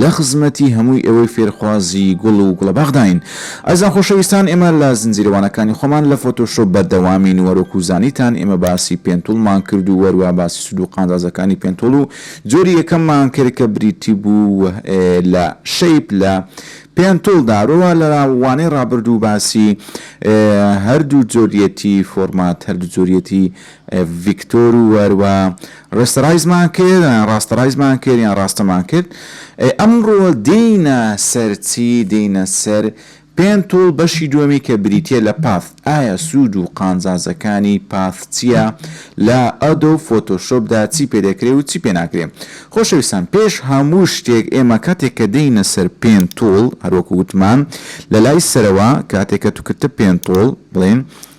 لە خزمەتی هەمووی ئێوەی فێرخوازی گوڵ و گوڵەباخداین. ئازیزان خۆشەویستان ئێمە لە زنجیرە وانەکانی خۆمان لە فۆتۆشۆپ بەردەوامین و هەروەکو زانیتان ئێمە باسی پێنتوڵمان کرد و هەروا باسی سود و قازازەکانی پێنتوڵ و جۆری یەکەممان کرد کە بریتی بوو لە شەیپ لە پێنتوڵدا هەروەوا لە وانەی ڕابردوو باسی هەردوو جۆریەتی فۆرمات هەردوو جۆریەتی ڤیکتۆر و واروا ڕێستەڕایزمان کرد یان ڕاستەڕایزمان کرد یان ڕاستەمان کرد ئەی ئەمڕۆ دێینە سەر چی دێینە سەر پێنتوڵ بەشی دووەمی کە بریتیە لە پاث ئایا سوود و قانزازەکانی پاث چییە لە ئەدۆ فۆتۆشۆپدا چی پێدەکرێ و چی پێناکرێ خۆشەویستان پێش هەموو شتێک ئێمە کاتێک کە دێینە سەر پێنتوڵ هەروەکو وتمان لە لای سەرەوە کاتێک کە توکرتە پێنتوڵ بڵێن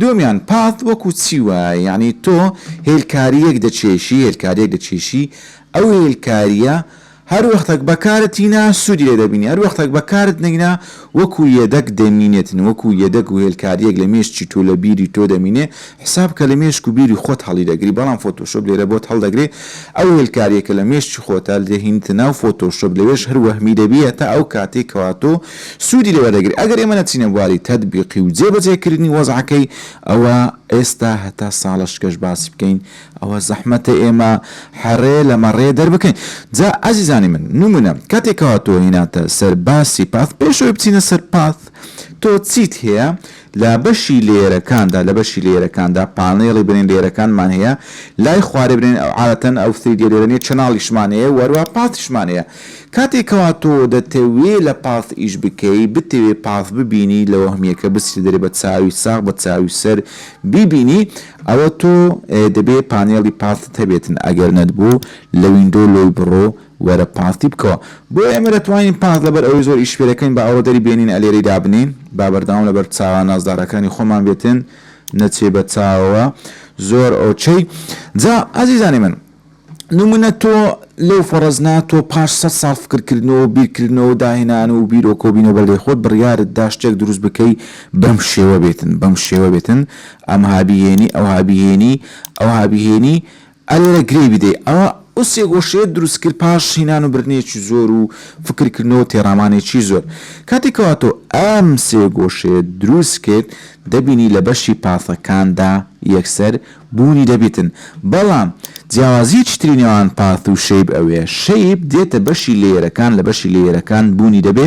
دووەمیان، پاث وەکو چی وایە، یەعنی تۆ هێلکارییەک دەکێشی، هێلکارییەک دەکێشی، ئەو هێلکارییە هەر وەختەک بەکارت هینا سوودی لێ دەبینی، هەر وەختەک بەکارت نەینا وەکو یەدەگ دەمینێت، وەکو یەدەگ و هێلکارییەک لە مێشکی تۆ لە بیری تۆ دەمینێ، حساب بکە لە مێشک و بیری خۆت هەڵیدەگری، بەڵام فۆتۆشۆپ لێرە بۆت هەڵدەگرێ، ئەو هێلکارییەکە لە مێشکی خۆتە دەهینیتە ناو فۆتۆشۆپ لەوێش هەر وەهمی دەبی هەتا ئەو کاتەی کەوا تۆ سوودی لێ وەردەگرێت، ئەگەر ئێمە نەچینە بواری تەتبیقی و جێبەجێکردنی وەزعەکەی، ئەوا ئێستا هەتا ساڵەشکەش باسی بکەین، ئەوە زەحمەتە ئێمە هەڕێ لە مەڕێ دەربکەین. جا ئازیزانی من، نموونە، کاتێک کەوا تۆ هیناتە سەر باسی پاث، پێش ئەوەی بچینە سەر پاث، تۆ چیت هەیە؟ لە بەشی لێیەرەکاندا لە بەشی لێیەرەکاندا پانێڵی بنێن لێیەرەکانمان هەیە لای خوارێ بنێن ئەو عادەتەن ئەو سریدیە لێرە نیە چەناڵیشمان هەیە وەروە پاسیشمان هەیە کاتێ کەوا تۆ دەتەوێ لە پاس ئیش بکەی بتەوێ پاس ببینی لە وەهمیەکە بچی دەرێ بە چاوی ساغ بە چاوی سەر بیبینی ئەوە تۆ دەبێ پانێڵی پاست هەبێتن ئەگەر نەتبوو لە ویندۆ لۆی بڕۆ وەرە پارتی بکەوە بۆ ئێمە دەتوانین پارت لەبەر ئەوەی زۆر ئیش پێدەکەین با ئەوە دەری بێنین ئەلێرەی دابنێین با بەردەوام لەبەر چاوە نازدارەکانی خۆمان بێتن نەچێ بە چاوەوە زۆر ئۆکەی جا ئازیزانی من نمونە تۆ لەو فەڕزنا تۆ پاش سە ساڵ فکرکردنەوە و بیرکردنەوە داهێنان و بیرۆکە و بینەوە بەلێ خۆت بڕیارت دا شتێک دروست بکەی بەم شێوە بێتن بەم شێوە بێتن ئەمها بیهێنی ئەوها بیهێنی ئەوها بیهێنی ئەرێ لە گرێی بدەی ئەوە ئەو سێ گۆشەیەت دروست کرد پاش هینان و بردنێکی زۆر و فکر کردنەوە و تێڕامانێکی زۆر کاتێ کەوا تۆ ئەم سێ گۆشەیەت دروست کرد دەبینی لە بەشی پاثەکاندا یەکسەر بوونی دەبیتن بەڵام جیاوازیەکی تری نێوان پاث و شەیب ئەوێ شەیب دێتە بەشی لەیەرەکان لە بەشی لەیەرەکان بوونی دەبێ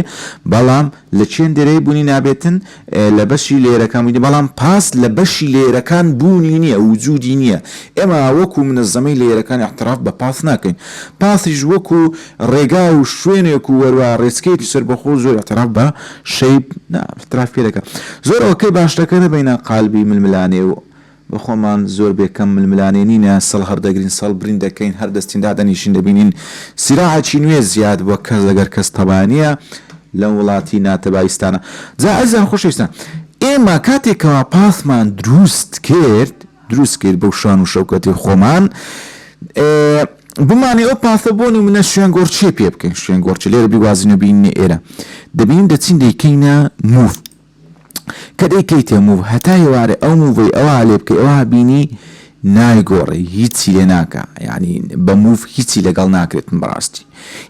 بەڵام لە چێندێرەی بوونی نابێتن لە بەشی لێرەکان بوویت بەڵام پاس لە بەشی لێرەکان بوونی نییە وجودی نییە ئێمە وەکو منەزەمەی لێرەکان اعتراف بە پاس ناکەین پاسیش وەکو ڕێگا و شوێنێک و وەروا ڕێچکەیەکی سەربەخۆ زۆر اعتراف بە شەیب نا اعتراف پێ دەکەن زۆر ئۆکەی باشتەکەرە بەینە قالبی ململانێ و بە خۆمان زۆر بێ کەم ململانێ نینە، سەڵ هەردەگرین، سەڵ برین دەکەین، هەر دەستین دادەنیشین دەبینین سیراعێکی نوێ زیاد بووە، کەس لەگەر کەس تەبا نییە لەم وڵاتی ناتەبایستانە. جا ئەزیزان و خۆشەویستان ئێمە کاتێ کەوا پاسمان دروست کرد، دروست کرد بەو شان و شەوکەتەی خۆمان، بمانەوێ ئەو پاسە بۆ نموونە شوێنگۆڕچێ پێ بکەین، شوێنگۆڕچێ لێرە بیگوازینەوە بینینە ئێرە، دەبینین دەچین دەیکەینە مووف، کە دەیکەیتە موو هەتا ئێوارێ ئەو مووەی ئەوها لێ بکەی ئەوها بینی نایگۆڕێی هیچی لێ ناکا یانی بە موو هیچی لەگەڵ ناکرێتن بەڕاستی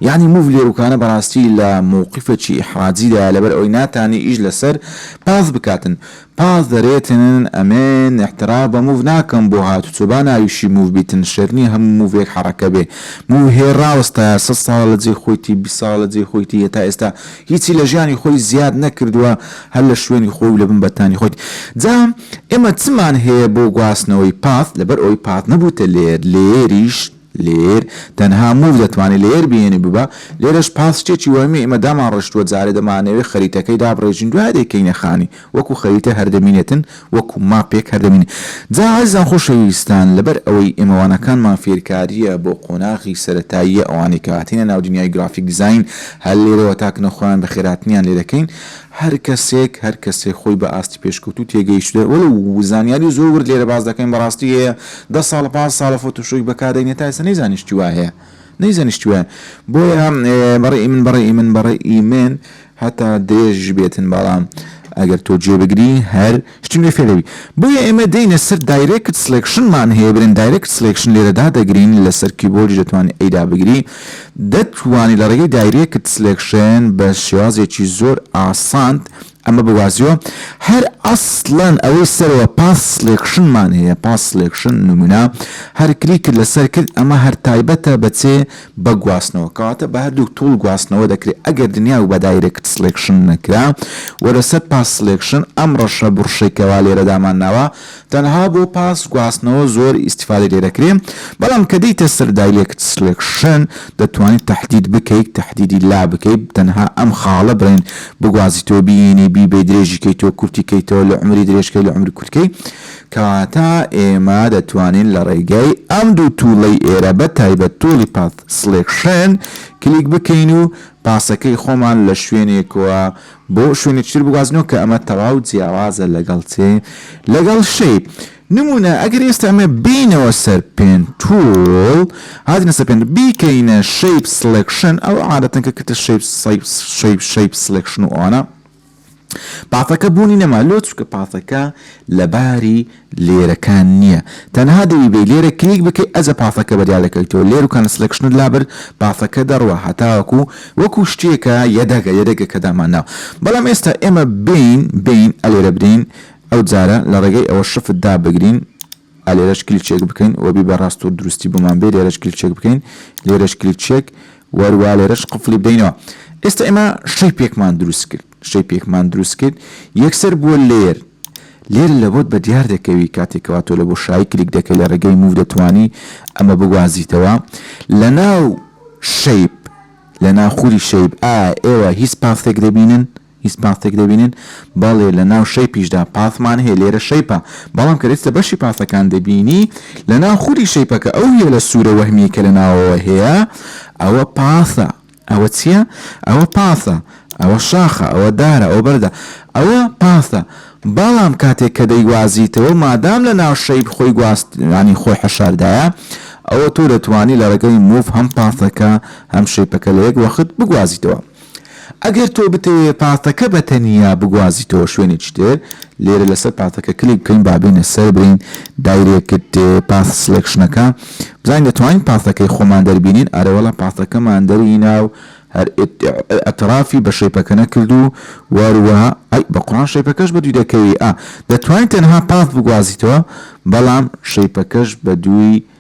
یانی موو لێروکانە بەڕاستی لە مووقیفەکی ئیحراجی دایە لەبەر ئەوەی ناتانی ئیش لەسەر پاس بکاتن پاس دەرێتنن ئەمێن ئیحترا بە موو ناکەم بۆ هاتوچۆ با ناویشی موو بیتن شێت نیە هەموو مووێک حەڕەکە بێ موو هێ ڕاوەستایە سەد ساڵە لە جێی خۆیتی بیست ساڵە لە جێی خۆیتی هەتا ئێستا هیچی لە ژیانی خۆی زیاد نەکردووە هەر لە شوێنی خۆی و لە بن بەتانی خۆی جا ئێمە چمان هەیە بۆ گواستنەوەی پاس لەبەر ئەوەی پاس نەبووتە لێر لێریش لێر تەنها موو دەتوانێت لێر بێنێ ببا لێرەش پاس شتێکی وەهمیە ئێمە دامانڕشتووە جارێ دەمانەوێت خەریتەکەی دابڕێژین دوای دەیکەینە خانی وەکو خەریتە هەر دەمینێتن وەکو ماپێک هەر دەمین جا ئازیزان خۆشەویستان لەبەر ئەوەی ئێمە وانەکانمان فێرکاریە بۆ قۆناغی سەرەتاییە ئەوانەی کە هاتینە ناو دنیای گرافیک دیزاین هەر لێرەوە تا کنە خۆیان بەخێرهاتنیان لێ دەکەین هەر کەسێک هەر کەسێک خۆی بە ئاستی پێشکەوتوو تێگەیشتوە وەلو زانیاری زۆر ورد لێرە باس دەکەین بەڕاستی هەیە دە ساڵ پانز ساڵە فۆتۆشۆیک بەکار دەینێ تا ئێستا نەیزانیشتوە هەیە نەیزانیشتوە بۆیە بەڕێ ی من بەڕێ ی من بەڕێ ی من هەتا درێژیش بێتن بەڵام ئەگەر تۆ گوێ بگری هەر شتی نوێ فێر دەبی بۆیە ئێمە دێینە سەر دایرێکت سڵێکشنمان هەیە برێن دایرێکت سڵێکشن لێرە دادەگرین لەسەر کیبۆردیش دەتوانی ئەی دابگری دەتوانی لە ڕێگەی دایرێکت سلێکشن بە شێوازێکی زۆر ئاسانت ئەمە بوازیۆ هەر ئەسڵەن ئەوەی سەرەوە پاس سلێکشنمان هەیە پاس سلێکشن نمونە هەر کلیکت لەسەر کرد ئەمە هەر تایبەتە بەچێ بە گواستنەوە کەواتە بە هەردووک توڵ گواستنەوە دەکرێ ئەگەر دنیا و بە دایرێکت سڵێکشن نەکرا وە لە سەر پاس سڵێکشن ئەم ڕەشە بڕشەی کە وا لێرە دامان ناوە تەنها بۆ پاس گواستنەوە زۆر ئیستیفادەی لێ دەکرێ بەڵام کە دێیتە سەر دایرێکت سڵێکشن دەتوانیت تەحدید بکەیت تەحدیدی لا بکەی تەنها ئەم خاڵە بڵێن بگوازیتەوە بیێنی بیبەی درێژی کەیتەوە کورتی کەیتەوە لە عومری درێژ کەی لە عومری کورت کەی کەواتە ئێمە دەتوانین لە ڕێگای ئەم دوو توڵەی ئێرە بە تایبەت توڵی Path Selection کلیک بکەین و پاسەکەی خۆمان لە شوێنێکەوە بۆ شوێنێکی تر بگوازینەوە کە ئەمە تەواو جیاوازە لەگەڵ چێ؟ لەگەڵ Shape. نموونە ئەگەر ئێستا ئەمە بێینەوە سەر Pen Tool هاتینە سەر Pen بیکەینە Shape Selection ئەو عادەتەن کە کردە Shape Shape Shape Selection و ئەوانە پاتەکە بوونی نەما لۆ چونکە پاتەکە لەباری لێرەکان نییە تەنها دەوی بێ لێرە کلیک بکەی ئەجە پاتەکە بەدیا دەکەویتەوە لێر و کانسلکشنت لابرد پاتەکە دەڕوا هەتاوەکو وەکو شتێکە یەدەگە یەدەگە کە دامانناوە بەڵام ئێستا ئێمە بین بین ئەلێرە برین ئەو جارە لە ڕێگەی ئەوە شفت دابگرین ئا لێرەش کلیک چێک بکەین وە بی بە ڕاست و دروستی بۆمان بێ لێرەش کلیک چێک بکەین لێرەش کلیک چێک وەر وا لێرەش قفڵی بدەینەوە ئێستا ئێمە شەی پێکمان دروست کرد شەی پێکمان دروست کرد یەکسەر بووە لێر لێر لە بۆت بە دیار دەکەوی کاتێکەوە تۆ لە بۆ شایی کلیک دەکەی لە ڕێگەی موو دەتوانی ئەمە بگوازیتەوە لە ناو شەیب لە ناخوری شەیب ئا ئێوە هیچ پاسێک دەبینن هیچ پاستێک دەبینن؟ بەڵێ، لە ناو شەیپیشدا پاستمان هەیە، لێرە شەیپە، بەڵام کە دەچیتە بەشی پاستەکان دەبینی لە ناو خودی شەیپەکە ئەو هێلە سوورە وەهمییەی کە لە ناوەوە هەیە ئەوە پاستە. ئەوە چییە؟ ئەوە پاستە، ئەوە شاخە، ئەوە دارە، ئەوە بەردە. ئەوە پاستە، بەڵام کاتێک کە دەیگوازیتەوە مادام لە ناو شەیپ خۆی گواست یانی خۆی حەشاردایە ئەوە تۆ دەتوانی لە ڕێگەی موڤ هەم پاستەکە هەم شەیپەکە لە یەک وەخت بگوازیتەوە. ئەگەر تۆ بتەوێ پاتەکە بە تەنیا بگوازیتەوە شوێنێکی تر لێرە لەسەر پاتەکە کلیک بکەین با بێنە سەر برین دایرێکت پاس سلێکشنەکە بزانین دەتوانین پاتەکەی خۆمان دەربینین ئەرەوەڵا پاتەکەمان دەرهینا و هەر ئەترافی بە شەیپەکە نەکرد و وەروەها ئەی بە قڕان شەیپەکەش بە دوی دەکەوی ئا دەتوانین تەنها پاس بگوازیتەوە بەڵام شەیپەکەش بە دوی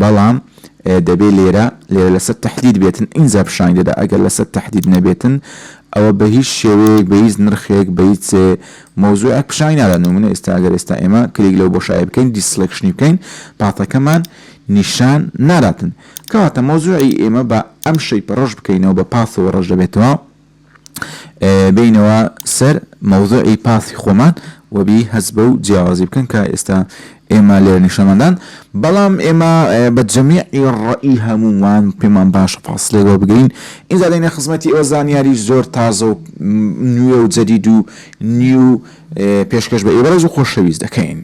بەڵام دەبێ لێرە لێرە لەسەر تەحدید بێتن ئینجا پیشانی دەدا ئەگەر لەسەر تەحدید نەبێتن ئەوە بە هیچ شێوەیەک بە هیچ نرخێک بە هیچ مەوزوعێک پیشانی نادا نمونە ئێستا ئەگەر ئێستا ئێمە کلیک لەو بۆشایە بکەین دیسلکشنی بکەین پاتەکەمان نیشان ناداتن کەواتە مەوزوعی ئێمە بە ئەم شەیپە ڕەش بکەینەوە بە پاثەوە ڕەش دەبێتەوە بێینەوە سەر مەوزوعی پاسی خۆمان وەبی هەز بە و جیاوازی بکەن کە ئێستا ئێمە لێر نیشەمەدان بەڵام ئێمە بە جەمیعی ڕئی هەمومان پێمان باشە فاصلەی بۆ بگرین ئینجا دەینە خزمەتی ئەوە زانیاری زۆر تازە و نوێ و جەدید و نیو پێشکەش بە ئێوەڕێز و خۆشەویست دەکەین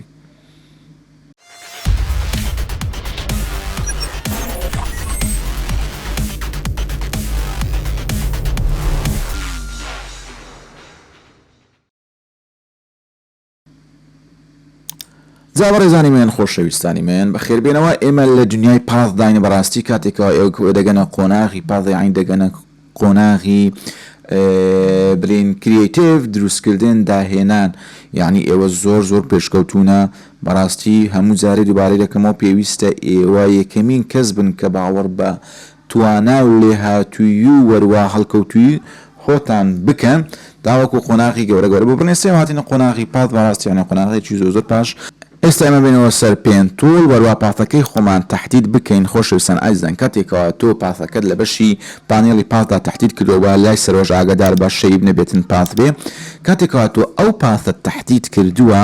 جا بەڕێزانی مێن خۆشەویستانی مێن بە خێربێنەوە ئێمە لە دنیای پاس داین بەڕاستی کاتێکەوە ئێوە دەگەنە قۆناغی پازەعین دەگەنە قۆناغی برین کریتیڤ دروستکردن داهێنان یانی ئێوە زۆر زۆر پێشکەوتونە بەڕاستی هەموو جارێ دووبارەی دەکەمەوە پێویستە ئێوە یەکەمین کەس بن کە باوەڕ بە توانا و لێهاتووی و وەروا هەڵکەوتووی خۆتان بکەن تاوەکو قۆناغی گەورە گەورە بۆ بڕنێ سێ هاتینە قۆناغی پاس بەڕاستیانە قۆناغێکی زۆر زۆر پاش ئێستا ئێمە بێنەوە سەر پێن توڵ وەروا پاثەکەی خۆمان تەحدید بکەین خۆشەویستان ئازیزان کاتێ کەوا تۆ پاثەکەت لە بەشی پانێڵی پاثدا تەحدید کردوە با لای سەرۆژ ئاگەدار بە شەیب نەبێتن پاث بێ کاتێ کەوا تۆ ئەو پاثەت تەحدید کردوە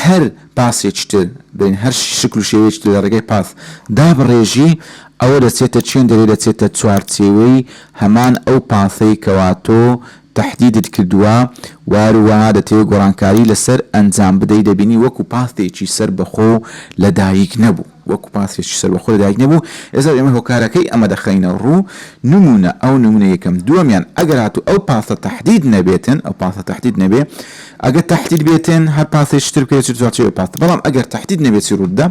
هەر پاسێکی تر بین هەر شکل و شێوەیەکی تر لە ڕێگای پاث دابڕێژی ئەوە دەچێتە چێن دەرێ دەچێتە چوارچێوەی هەمان ئەو پاثەی کەوا تۆ تەحدیدت کردوە وار و دەتەوێ گۆڕانکاری لەسەر ئەنجام بدەی دەبینی وەکو پاستێکی سەر بەخۆ لەدایک نەبوو وەکو پاستێکی سەر بەخۆ لەدایک نەبوو ئێستا ئێمە هۆکارەکەی ئەمە دەخەینە ڕوو نمونە ئەو نمونە یەکەم دووەمیان ئەگەر هاتوو ئەو پاستە تەحدید نەبێتن ئەو پاستە تەحدید نەبێ ئەگەر تەحدید بێتن هەر پاستێکی تر بکرێت چ جواب پاست بەڵام ئەگەر تەحدید نەبێت چی ڕوودە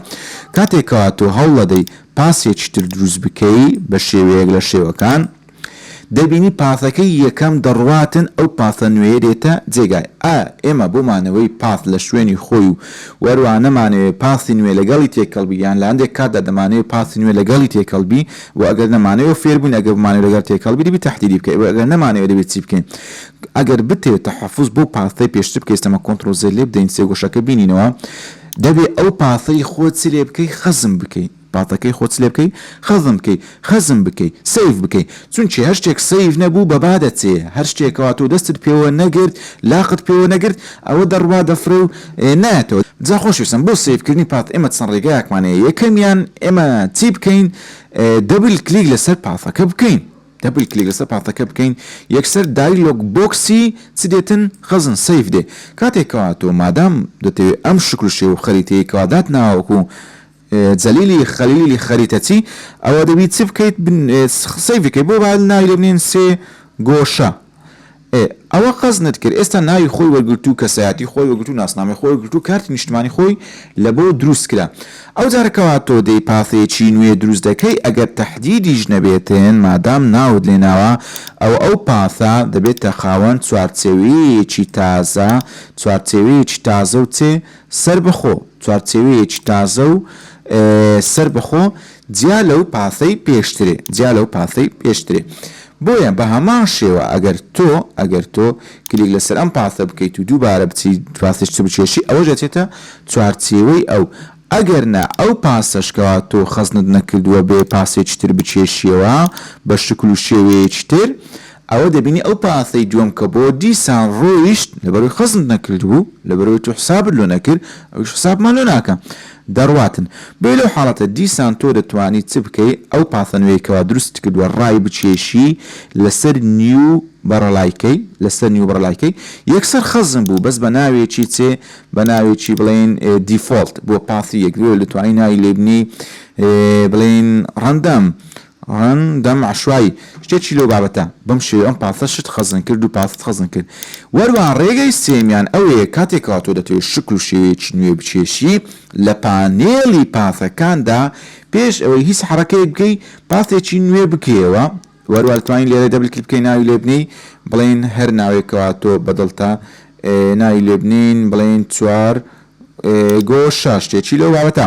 کاتێکەوە تۆ هەوڵەدەی پاسێکی تر دروست بکەی بە شێوەیەک لە شێوەکان دەبینی پاسەکەی یەکەم دەڕواتن ئەو پاسە نوێیە دێتە جێگای ئا ئێمە بۆ مانەوەی پاس لە شوێنی خۆی و وەروا نەمانەوێ پاسی نوێ لەگەڵی تێکەڵ بی یان لەهەندێک کاتدا دەمانەوێ پاسی نوێ لەگەڵی تێکەڵ بی بۆ ئەگەر نەمانەوێ و فێربووین ئەگەر بمانەوێ لەگەڵ تێکەڵ بی دەبی تەحدیدی بکەی بۆ ئەگەر نەمانەوێ دەبێ چی بکەین ئەگەر بتەوێ تەحەفوز بۆ پاسەی پێشتر بکەی ستەمە کۆنتڕۆڵ زێد لێبدەین سێگۆشەکە بینینەوە دەبێ ئەو پاسەی خۆت چی لێبکەی خەزم بکەی. پاتەکەی خۆت لێ بکەی خەزن بکەی خەزن بکەی سەیڤ بکەی چونکی هەر شتێک سەیڤ نەبوو بە با دەچێ هەر شتێک کەوا تۆ دەستت پێوە نەگرت لاقت پێوە نەگرت ئەوە دەڕوا دەفڕێ و نایەتەوە جا خۆشویستم بۆ سەیڤ کردنی پات ئێمە چەند ڕێگایەکمان هەیە یەکەمیان ئێمە چی بکەین دەبل کلیک لەسەر پاتەکە بکەین دەبل کلیک لەسەر پاتەکە بکەین یەکسەر دایلۆگ بۆکسی چ دێتن خەزن سەیڤ دێ کاتێکەوە تۆ مادام دەتەوێت ئەم شکل و شێوە خەریتەیەکەوە داتناوەکو جەلیلی خەلیلی خەریتە چی ئەوە دەبی چ بکەیت سەیڤ بکەی بۆ با ناوی لێ بنێن سێ گۆشە ئێ ئەوە قەزنت کرد ئێستا ناوی خۆی وەرگرتوو کەسایەتی خۆی وەگرتوو ناسنامەی خۆی وەگرتوو کارتی نیشتمانی خۆی لە بۆ دروست کرا ئەو جارە کەوا تۆ دێی پاسێکی نوێ دروست دەکەی ئەگەر تەحدیدیش نەبێتێن مادام ناوت لێ ناوە ئەوە ئەو پاسە دەبێتە خاوەن چوارچێوەیەیەکی تازە چوارچێوەیەکی تازە و چێ سەربەخۆ، چوارچێوەیەکی تازە و سەربەخۆ جیا لەو پاسەی پێشترێ، جیا لەو پاسەی پێشترێ. بۆیە بە هەمان شێوە ئەگەر تۆ، ئەگەر تۆ کلیک لەسەر ئەم پاسە بکەیت و دووبارە بچیت پاسێکی تر بکێشی، ئەوەش ئەچێتە چوارچێوەی ئەو. ئەگەرنا ئەو پاسەش کەوا تۆ خەزنت نەکردووە بێ پاسێکی تر بکێشیەوە بە شکل و شێوەیەکی تر، ئەوە دەبینی ئەو پانسەی دووەم کە بۆ دیسان ڕۆیشت لەبەرەوەی خەزمت نەکردبوو لەبەرەوەی تۆ حسابت لۆ نەکرد ئەویش حسابمان لۆ ناکا دەڕواتن بۆیە لەو حاڵەتە دیسان تۆ دەتوانی چ بکەی ئەو پانسە نوێی کەوا دروستت کردووە ڕای بکێشی لەسەر نیو بەڕەڵای کەی لەسەر نیو بەڕەڵای کەی یەکسەر خەزم بوو بەس بە ناوێکی چێ بە ناوێکی بڵێن دیفۆڵت بۆ پانسی یەک لۆ دەتوانی ناوی لێبنێی بڵێن ڕەندەم عن دەم عەشوایی شتێکی لەو بابەتە بەم شێوەیە ئەم پاسە شت خەزن کرد و پاست خەزن کرد وەروا ڕێگەی سێیەمیان ئەوەیە کاتێکەوە تۆ دەتەوێت شکل و شێوەیەکی نوێ بکێشی لە پانێڵی پاسەکاندا پێش ئەوەی هیچ حەڕەکەیەک بکەی پاسێکی نوێ بکەیەوە وەروا دەتوانین لێرە دەبل کلیک بکەین ناوی لێ بنێی بڵێین هەر ناوێکەوە تۆ بەدڵتە ناوی لێ بنین بڵێین چوار گۆ شاشتێکی لەو بابەتە